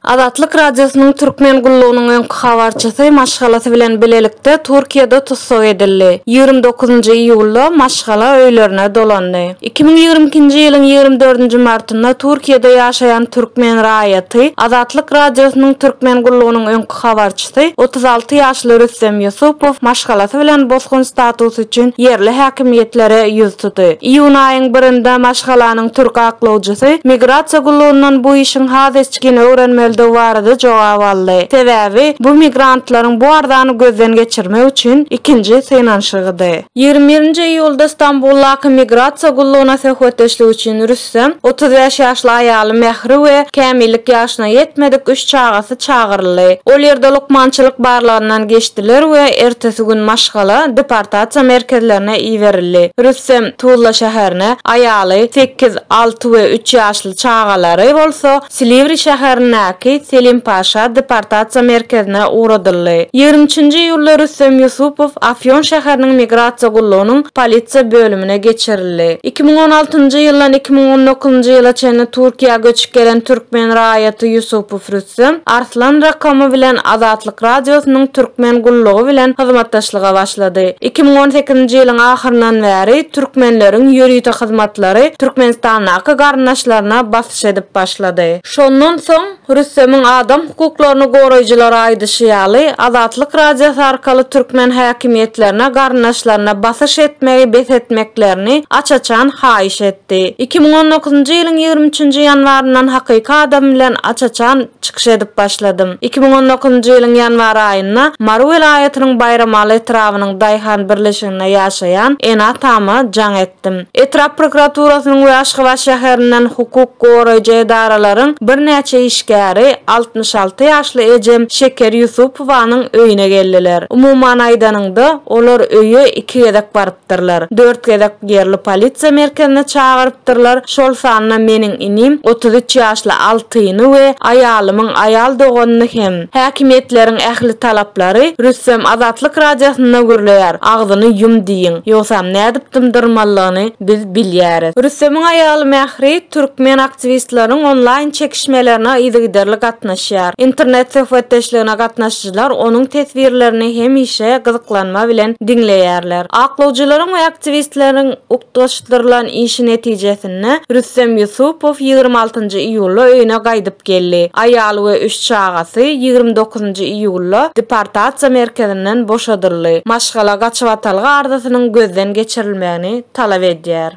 Azatlyk Radiosynyň Türkmen gullugynyň öňki habarçysy maşgalasy bilen bilelikde Türkiýede tussag edildi. Ýigrimi dokuzynjy iýulda maşgala öýlerine dolandy. Iki müň ýigrimi ikinji ýylyň ýigrimi dördünji martynda Türkiýede ýaşaýan türkmen raýaty Azatlyk Radiosynyň Türkmen gullugynyň öňki Habarçysy, otuz alty ýaşly Rüstem Ýusupow maşgalasy bilen bosgun statusy üçin ýerli häkimiýetlere ýüz tuty. Iýun aýyň birinde maşgalanyň türk aklawjysy migrasiýa gullugyndan bu işiň has içgin öwrenmelidigi barada jogap aldy. Sebäbi, bu migrantlaryň bu arzany gözden geçirmek üçin ikinji synanyşygydy. Ýigrimi birinji iýulda Stambuldaky migrasiýa gullugyna söhbetdeşlik üçin Rüs. Rüstem, otuz bäş ýaşly aýaly Mähri we kämillik ýaşyna ýetmedik üç çagasy çagyryldy. Ol ýerde lukmançylyk barlagyndan geçdiler we ertesi gün maşgala deportasiýa merkezlerine iberildi. Rüstem, Tuzla şäherine, aýaly, sekiz, alty we üç ýaşly çagalary bolsa, Silivri şäherindäki Selim-Paşa deportasiýa merkezine ugradyldy. Ýigrimi üçünji iýulda Rüstem Ýusupow Afýon şäheriniň migrasiýa gullugynyň polisiýa bölümine geçirildi. Iki müň on altynjy ýyldan iki müň on dokuzynjy ýyla çenli Türkiýä göçüp gelen türkmen raýaty Ýusupow Rüstem Arslan Rakomy bilen Azatlyk Radiosynyň türkmen gullugy bilen hyzmatdaşlyga başlady. Iki müň on sekizinji ýylyň ahyryndan bäri türkmenleriň ýörite hyzmatlary Türkmenistandaky garyndaşlaryna takyk edip başlady. Şondan soň, Rüstemiň adam hukuklaryny goraýjylara aýdyşy ýaly, Azatlyk Radiosy arkaly türkmen häkimiýetlerine garyndaşlaryna basyş etmegi bes etmeklerini aç-açan haýyş etdi. Iki müň on dokuzynjy ýylyň ýigrimi üçünji ýanwaryndan hakyky adym bilen aç-açan çykyş edip başladym. Iki müň on dokuzynjy ýylyň ýanwar aýynda Mary welaýatynyň Baýramaly etrabynyň daýhan birleşiginde ýaşaýan ene-atama jaň etdim. aýtdym. Etrap prokuraturasynyň we Aşgabat şäherinden hukuk goraýjy edaralaryň birnäçe işgäri altmyş alty ýaşly ejem Şeker Ýusupowanyň öýüne geldiler. Umuman aýdanyňda, olar öýe iki gezek barypdyrlar. Dört gezek ýerli polisiýa merkezine çagyrypdyrlar, şol sanda meniň inim, otuz üç ýaşly Altyny we aýalymyň aýal doganyny hem. Häkimiýetleriň ähli talaplary Rüstem Azatlyk Radiosynda gürleýär, agzyny ýum diýiň, ýogsam nädip dymdyrmalyny biz bilýäris. Rüstemiň aýaly Mähri türkmen aktiwistleriň onlaýn çekişmelerine yzygiderli gatnaşýar. Internet söhbetdeşligine gatnaşyjylar onuň teswirlerini hemişe gyzyklanma bilen diňleýärler. Aklawjylaryň we aktiwistleriň utgaşdyrylan işi netijesinde Rüstem Ýusupow ýigrimi altynjy iýulda öýüne gaýdyp gaýdyp geldi. Aýaly we üç çagasy ýigrimi dokuzynjy iýulda deportasiýa merkezinden boşadyldy. Maşgala gaçybatalga arzasynyň gözden geçirilmegini talap edýär.